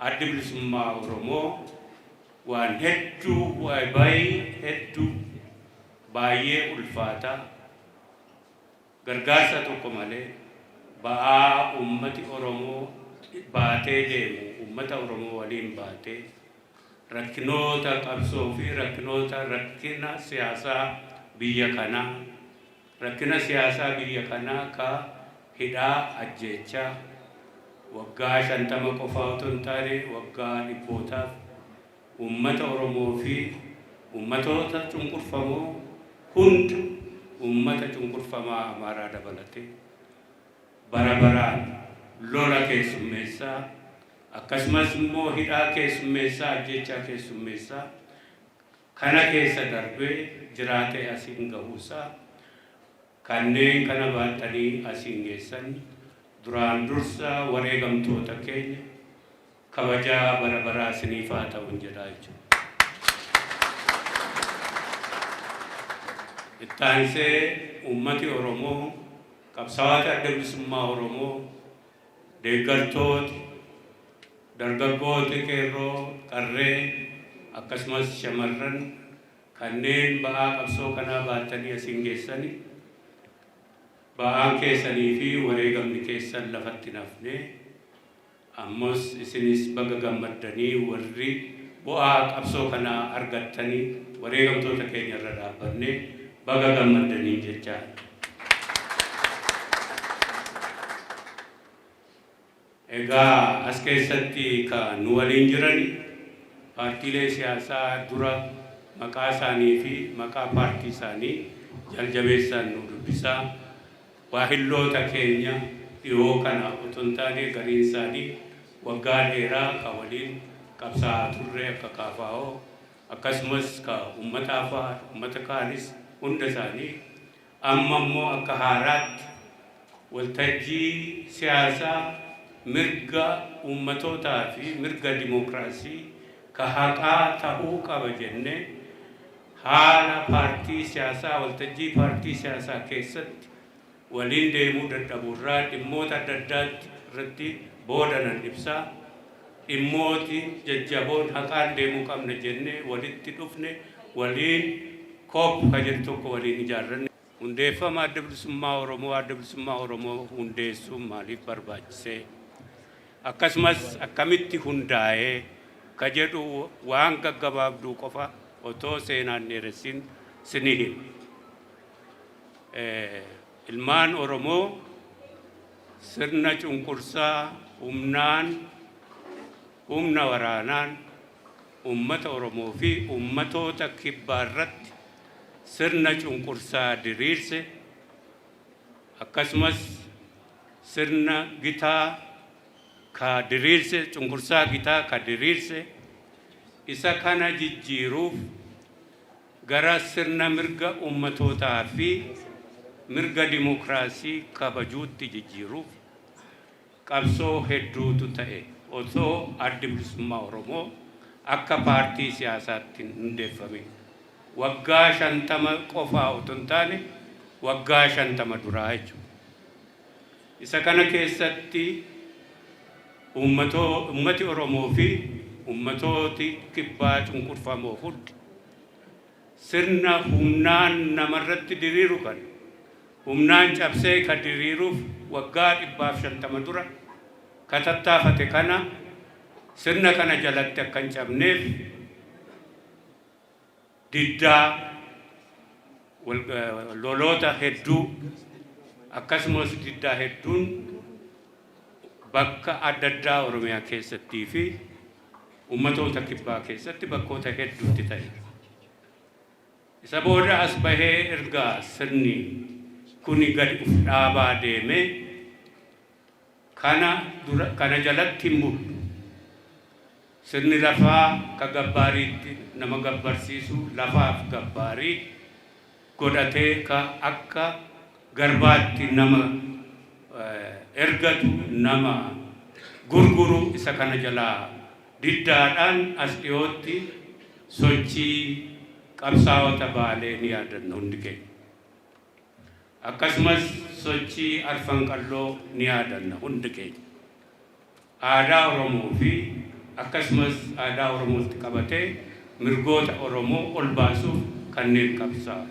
Addi Bilisummaa Oromoo waan hedduu wly hedduu baay'ee ulfaataa gargaarsa tokko malee ba'aa uummati Oromoo baatee deemu uummata Oromoo waliin baatee rakkinoota qabsoo fi rakkinoota rakkina siyaasaa biyya kanaa Rakkina siyaasaa biyya kanaa akka hidhaa, ajjeechaa, waggaa 50 qofaa otoo hin taane waggaa dhibbootaaf uummata Oromoo fi uummatoota cunqurfamoo hunda, uummata cunqurfamaa Amaaraa dabalatee, bara baraan lola keessummeessaa, akkasumas immoo hidhaa keessummeessaa, ajjeechaa keessummeessaa, kana keessa darbee jiraatee asiin gahuusaa kanneen kana baatanii asiin geessan duraan dursa wareegamtoota keenya kabajaa bara baraa isiniif haa ta'un jedhaa jechuudha. Itti aansee uummati Oromoo qabsaawaa Adda Bilisummaa Oromoo Deeggartooti, dargaggooti, qeerroo, qarree akkasumas shamarran kanneen ba'aa qabsoo kanaa baattanii asiin geessani ba'aan keessanii fi wareegamni keessan lafatti hin hafne. Ammas isinis baga gammaddanii warri bu'aa qabsoo kanaa argattani wareegamtoota keenya irra dhaabbanne baga gammaddaniin jechaa. Egaa as keessatti ka nu waliin jirani paartiilee siyaasaa dura maqaa isaanii fi maqaa paartii isaanii jaljabeessaan nuu dubbisaa. Waahilloota keenya dhihoo kana oto hin taane gariin isaanii waggaa dheeraa ka waliin qabsaa'aa turre akka KFO, Akkasumas ka ummata Afaar, ummata kaanis hunda isaanii amma immoo akka haaraatti waltajjii siyaasaa mirga ummatootaa fi mirga dimookiraasii ka haqaa tahuu qaba jennee haala paartii siyaasaa waltajjii paartii siyaasaa keessatti waliin deemuu dadhabuu irraa dhimmoota adda addaa irratti booda nan ibsa. Dhimmooti jajjaboon haqaan deemuu qabna jennee walitti dhufne waliin Kop ka jedhu tokko waliin ijaarranne. Hundeeffama Adda Bilisummaa Oromoo, Adda Bilisummaa Oromoo hundeessuun maaliif barbaachise? Akkasumas akkamitti hundaa'e? ka jedhu waan gaggabaabduu qofa otoo seenaa hin dheeressin sinii hima. Ilmaan Oromoo sirna cunqursaa humnaan, humna waraanaan uummata Oromoo fi uummatoota kibbaa irratti sirna cunqursaa diriirse akkasumas sirna gitaa ka diriirse cunqursaa gitaa ka diriirse isa kana jijjiiruuf gara sirna mirga ummatootaa fi mirga dimokraasii kabajuutti jijjiiruuf qabsoo hedduutu ta'e osoo Addi Bilisummaa Oromoo akka paartii siyaasaatti hin hundeeffamin. Waggaa 50 qofaa otoo hin taane waggaa 50 duraa jechuudha. Isa kana keessatti uummati Oromoo fi uummatooti kibbaa cunqurfamoo hundi sirna humnaan nama irratti diriiru kana humnaan cabsee ka diriiruuf waggaa 150 dura ka tattaafate kana sirna kana jalatti akka hin cabneef diddaa, loloota hedduu akkasumas diddaa hedduun bakka adda addaa Oromiyaa keessattii fi ummatoota kibbaa keessatti bakkoota hedduutti ta'e. Isa booda as bahee erga sirni kuni gad uf dhaabaa deemee, Kana dura kana jalatti hin mullu. Sirni lafaa ka gabbaariitti nama gabbarsiisu lafaaf gabbaarii godhatee ka akka garbaatti nama ergatu, nama gurguru isa kana jalaa diddaadhaan as dhiyootti sochii qabsaawota Baalee ni yaadanna hundi keenya. Akkasumas sochii Arfan Qalloo ni yaadanna hundi keenya. Aadaa Oromoo fi akkasumas aadaa Oromootti qabatee mirgoota Oromoo ol baasuuf kanneen qabsaa'an.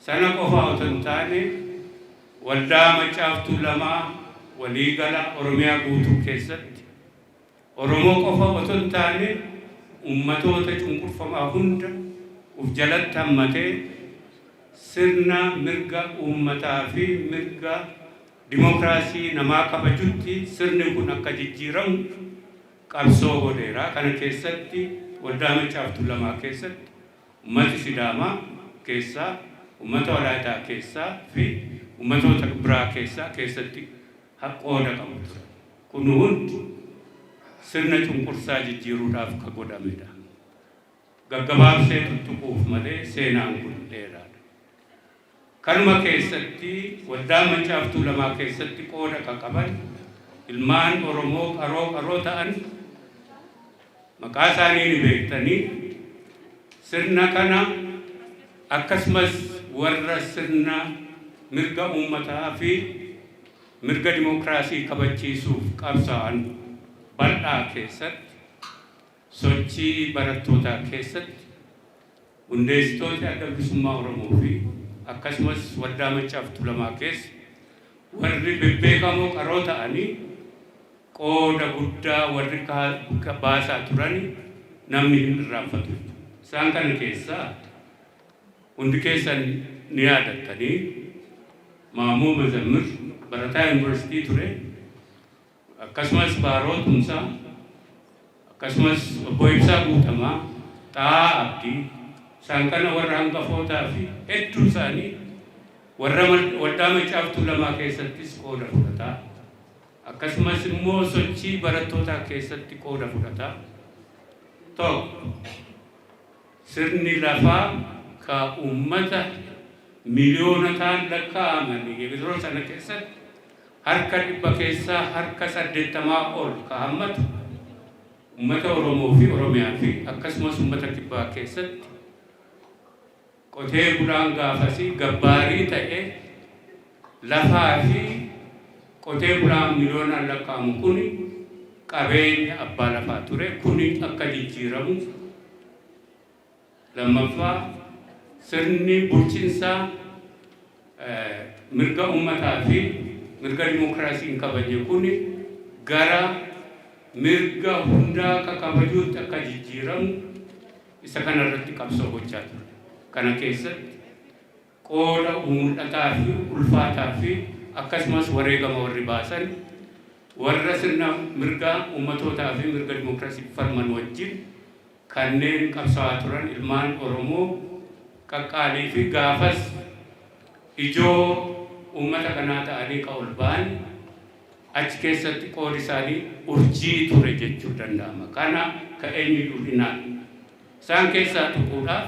Sana qofaa otoo hin taane Waldaa Maccaaf Tuulamaa waliigala Oromiyaa guutuu keessatti Oromoo qofa otoo hin taane ummatoota cunqurfamaa hunda uf jalatti hammatee sirna mirga uummataa fi mirga dimookiraasii namaa kabajutti sirni kun akka jijjiiramu qabsoo godheera. Kana keessatti Waldaa Maccaa fi Tuulamaa keessatti ummati Sidaamaa keessaa, ummata Walaayitaa keessaa fi ummatoota biraa keessaa keessatti qooda qabu turan. Kun hundi sirna cunqursaa jijjiiruudhaaf ka godhame dha. Gaggabaabsee tuttuquuf malee seenaan kun dheeraa dha. Kanuma keessatti Waldaa Maccaaf Tuulamaa keessatti qooda ka qaban ilmaan Oromoo qaroo qaroo ta'an maqaa isaanii ni beektanii sirna kana akkasumas warra sirna mirga uummataa fi Mirga dimokiraasii kabachiisuuf qabsaa'an bal'aa keessatti sochii barattootaa keessatti hundeessitooti Adda Bilisummaa Oromoo fi akkasumas Waldaa Maccaa fi Tulamaa keessa warri bebbeekamoo qaroo ta'anii qooda guddaa warri kaa baasaa turani namni hin irraanfatu. Isaan kana keessaa. Hundi keessan ni yaadattani, Maammoo Mazammir barataa Yuunivarsiitii ture, akkasumas Baaroo Tumsaa, akkasumas Obbo Ibsaa Guutamaa, Xaa'aa Abdii, isaan kana warra hangafootaa fi hedduun isaanii warra Waldaa Maccaa fi Tuulamaa keessattis qooda fudhataa, akkasumas immoo sochii barattootaa keessatti qooda fudhataa 1. Sirni lafaa ka ummata miliyoonotaan lakkaa'aman yeroo sana keessatti harka dhibba keessaa harka 80 ol ka hammatu ummata Oromoo fi Oromiyaa fi akkasumas ummata Kibbaa keessatti qotee bulaan gaafasii gabbaarii ta'ee, Lafaa fi qotee bulaan miliyoonaan lakkaa'amu kun qabeenya abbaa lafaa ture. Kuni akka jijjiiramuuf lammaffaa sirni bulchinsaa mirga ummataa fi mirga dimookiraasii hin kabajne kuni gara mirga hundaa akka kabajuutti akka jijjiiramu isa kana irratti qabsoo gochaa ture. Kana keessatti Qooda mul'ataa fi ulfaataa fi akkasumas wareegama warri baasan warra sirna mirga ummatootaa fi mirga dimokiraasiif falman wajjin kanneen qabsawaa turan ilmaan Oromoo qaqqaalii fi gaafas ijoo ummata kanaa ta'anii ka ol ba'an achi keessatti qoodi isaanii urjii ture jechuu danda'ama. Kana ka eenyuyyuu hin haalu. Isaan keessaa tuquudhaaf.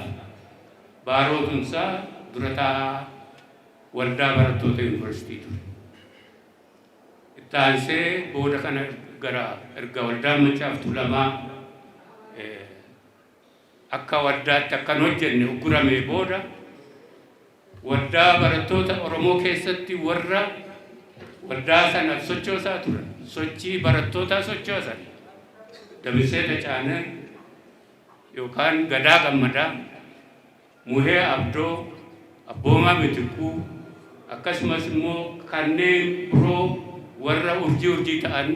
Baaroo Tumsaa dura taa'aa waldaa barattoota Yuunivarsiitii ture. Itti aansee booda kana gara erga waldaan Maccaaf Tuulamaa akka waldaatti akka hin hojjenne ugguramee booda waldaa barattoota Oromoo keessatti warra waldaa sanaaf sochoosaa turan sochii barattootaa sochoosan Damissee Tacaanee yookaan Gadaa Gammadaa, Muhee Abdoo, Abboomaa Mitikkuu, akkasumas immoo kanneen biroo warra urjii urjii ta'an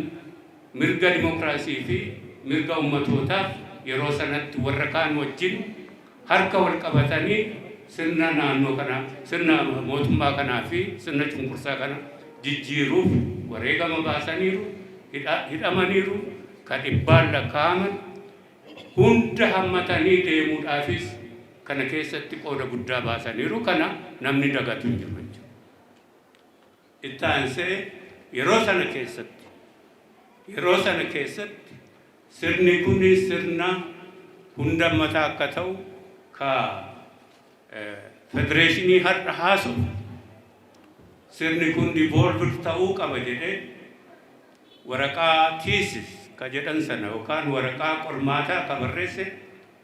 mirga dimokiraasii fi mirga ummatootaaf yeroo sanatti warra kaan wajjin harka wal qabatanii sirna naannoo kana, sirna mootummaa kanaa fi sirna cunqursaa kana jijjiiruuf wareegama baasaniiru, hidhamaniiru, ka dhibbaan lakkaa'aman. hunda hammatanii deemuudhaafis kana keessatti qooda guddaa baasaniiru. Kana namni dagatu hin jiru jechuudha. Itti aansee yeroo sana keessatti yeroo sana keessatti sirni kun sirna hunda hammataa akka ta'u ka federeeshinii har'a haasofnu sirni kun devolved ta'uu qaba jedhee Waraqaa thesis ka jedhan sana yookaan waraqaa qormaataa ka barreesse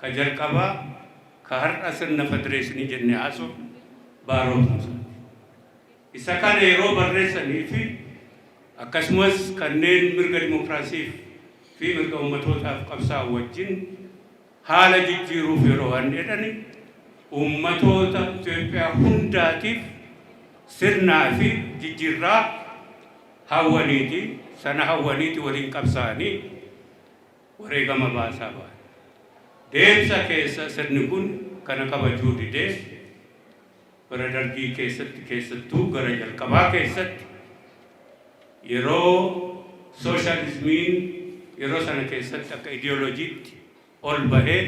ka jalqabaa ka har'a sirna federeeshinii jennee haasofnu Baaroo Tumsaati. Isa kana yeroo barreessanii fi akkasumas kanneen mirga dimokiraasiif fi mirga ummatootaaf qabsaa'an wajjin Haala jijjiiruuf yeroo waan jedhani uummatoota Itoophiyaa hundaatiif sirnaa fi jijjiirraa hawwaniiti, sana hawwaniiti waliin qabsaa'anii wareegama baasaa bahan. Deemsa keessa sirni kun kana kabajuu didee, Bara Dargii keessatti keessattuu gara jalqabaa keessatti yeroo sooshaalizmiin yeroo sana keessatti akka ideolojiitti ol bahee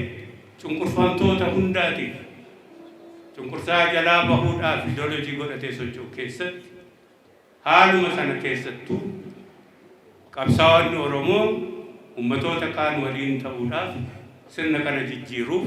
cunqurfamtoota hundaatiif cunqursaa jalaa bahuudhaaf ideolojii godhatee socho'u keessatti haaluma sana keessattuu qabsaa'onni Oromoo ummatoota kaan waliin ta'uudhaaf sirna kana jijjiiruuf